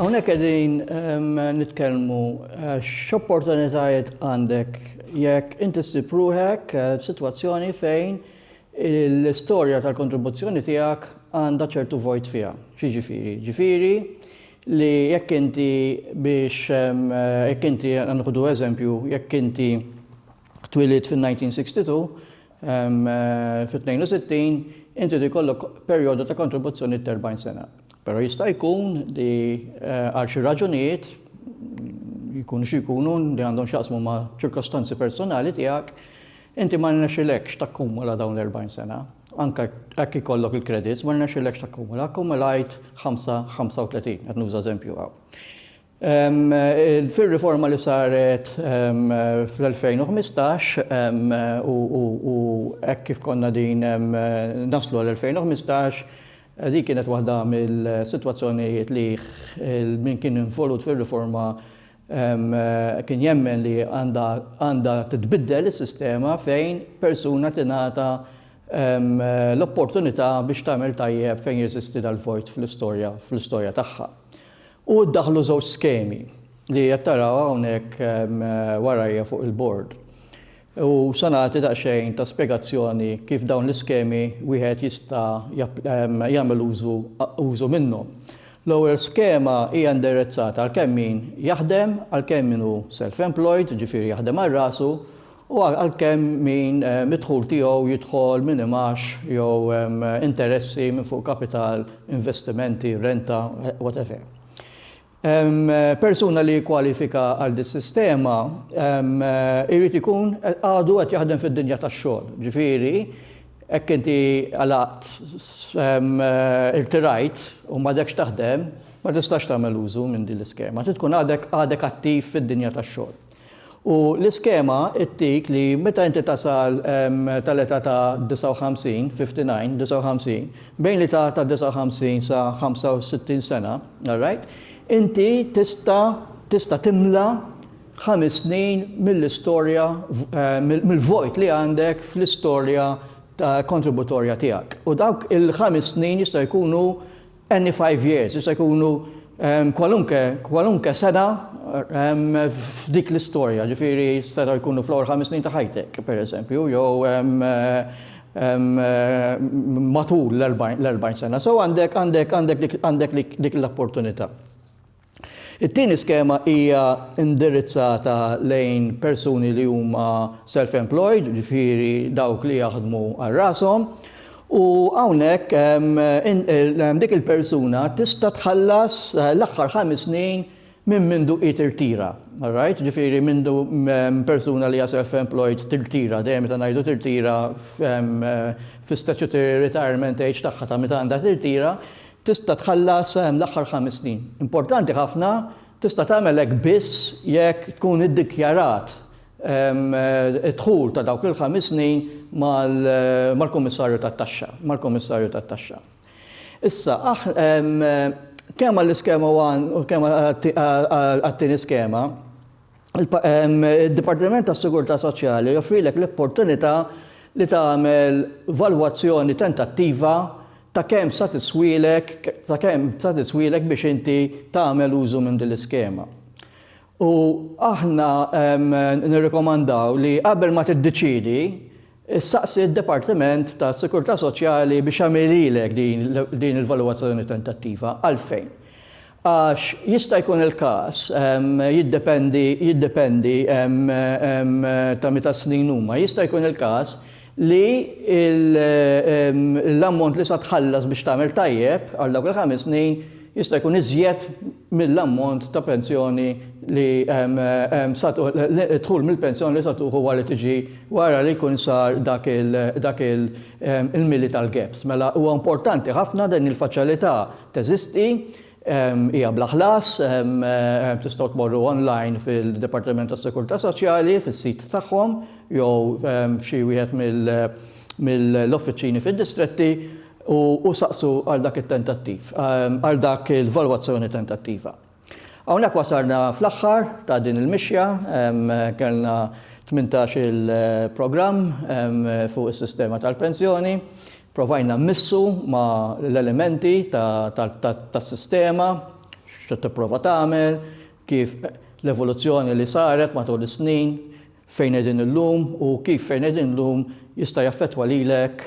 Hawnhekk qegħdin ehm, nitkellmu eh, x'opportunitajiet għandek jekk inti ssib ruħek eh, f'sitwazzjoni fejn l-istorja tal-kontribuzzjoni tiegħek għandha ċertu vojt fiha. Ġifieri, ġifieri li jekk inti biex jekk inti nħudu eżempju jekk inti twilid fin-1962 fit-62 inti jkollok perjodu ta' kontribuzzjoni ta' 40 sena. Però jista' jkun li għal xi raġunijiet jkunu xi jkunu li għandhom x'jaqsmu ma' ċirkostanzi personali tiegħek, Inti ma rnexxilekx takkumula dawn l-40 sena, anke jekk ikollok il-credits, ma rnexxilekx takkumula, akkumulajt 35, qed nuża eżempju hawn. Fir-riforma li saret fl-2015 u hekk kif konna din naslu għal 2015, din kienet waħda mill-sitwazzjonijiet li min kien involut fir-riforma Kien jemmen li għandha titbiddel is-sistema fejn persuna tingħata l-opportunità biex tagħmel tajjeb fejn jeżisti dal-vojt fl-istorja tagħha. U ddaħħlu żewġ skemi li qed taraw hawnhekk warajja fuq il-bord. U se nagħti daqsxejn ta' spjegazzjoni kif dawn l-iskemi wieħed jista' jagħmel użu użu minnhom. L-ewwel skema hija indirizzata għal kemm min jaħdem, għal kemm min hu self-employed, jiġifieri jaħdem għal rasu, u għal kemm min id-dħul tiegħu jidħol minn imgħax jew interessi minn fuq kapital, investimenti, renta, whatever. Persuna li jikkwalifika għal dis-sistema jrid ikun għadu qed jaħdem fid-dinja tax-xogħol. Ġifieri, hekk inti għalaqt, irtirajt u m'għadekx taħdem, ma tistax tagħmel użu minn din l-iskema. Trid tkun għadek attiv fid-dinja tax-xogħol. U l-iskema ttik li meta inti tasal tal-età ta' 59, 59, 59, bejn l-età ta' 59 sa 65 sena, all right, inti tista' tista' timla ħames snin mill-istorja mill-vojt li għandek fl-istorja kontributorja tiegħek. U dawk il-ħames snin jistgħu jkunu Any five years, jista' jkunu kwalunke, kwalunke sena f'dik l-istorja, ġifieri setgħu jkunu fl-ewwel ħames snin ta' ħajtek, pereżempju, jew matul l-erbgħin sena. So għandek, għandek, għandek dik l-opportunità. It-tieni skema hija indirizzata lejn persuni li huma self-employed, jiġifieri dawk li jaħdmu għal rashom, u hawnhekk hemm dik il-persuna tista' tħallas l-aħħar ħames snin minn mindu hi tirtira. All right? Jiġifieri mindu persuna li hija self-employed tirtira, dejjem meta ngħidu tirtira fis-statutory retirement age tagħha ta' meta għandha tirtira, tista' tħallas l-aħħar ħames snin. Importanti ħafna, tista' tagħmel hekk biss jekk tkun iddikjarat id-dħul ta' dawk il-ħames snin mal-Kummissarju tat-Taxxa, mal-Kummissarju tat-Taxxa. Issa, kemm għall-iskema one u kemm għat-tieni skema, id-Dipartiment tas-Sigurtà Soċjali joffrilek l-opportunità li tagħmel valwazzjoni tentattiva ta' kemm sa tiswielek ta' kemm sa tiswielek biex inti tagħmel użu minn din l-iskema. U aħna nirrikomandaw li qabel ma tiddeċiedi Issaqsi d-Dipartiment tas-Sikurtà Soċjali biex jagħmililek din il-valwazzjoni tentattiva. Għalfejn? Għax jista' jkun il-każ, jiddependi, jiddependi ta' meta snin huma, jista' jkun il-każ li l-ammont li sa tħallas biex tagħmel tajjeb għal dawk il-ħames snin, jista' jkun iżjed mill-ammont ta' pensjoni li dħul mill-pensjoni li sa tuħu wara li tiġi wara li jkun sar dak il-mili tal-gaps. Mela huwa importanti ħafna din il-faċilità teżisti, hija bla ħlas, tistgħu tmorru online fil-Dipartiment tas-Sikurtà Soċjali fis-sit tagħhom jew f'xi wieħed mill- mill-offiċini fid-distretti u saqsu għal dak it-tentattiv, għal dak il-valwazzjoni tentattiva. Hawnhekk wasalna fl-aħħar ta' din il-mixja, kellna 18 il-programm fuq is-sistema tal-pensjoni, provajna mmissu ma' l-elementi tas-sistema, x'qed tipprova tagħmel, kif l-evoluzzjoni li saret matul is-snin, fejn qegħdin illum u kif fejn qegħdin illum jista' jaffettwa lilek,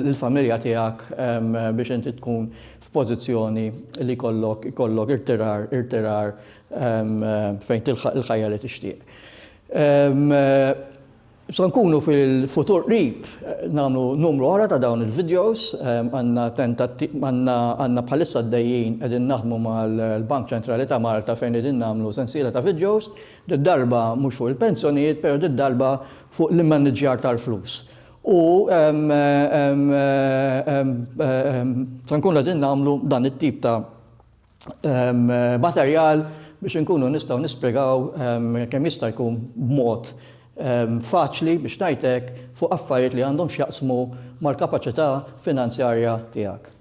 lill-familja tiegħek biex inti tkun f'pożizzjoni li jkollok jkollok irtirar irtirar fejn tilħaq il-ħajja li tixtieq. Se nkunu fil-futur qrib nagħmlu numru oħra ta' dawn il-videos, għandna tentatti għandna għandna bħalissa għaddejjin qegħdin naħdmu mal-Bank Ċentrali ta' Malta fejn qegħdin nagħmlu sensiela ta' videos, Did-darba mhux fuq il-pensjonijiet, però did-darba fuq l-immaniġġjar tal-flus. U se nkunu qegħdin nagħmlu dan it-tip ta' materjal biex inkunu nistgħu nispjegaw kemm jista' jkun b'mod faċli biex ngħid hekk fuq affarijiet li għandhom x'jaqsmu mal-kapaċità finanzjarja tiegħek.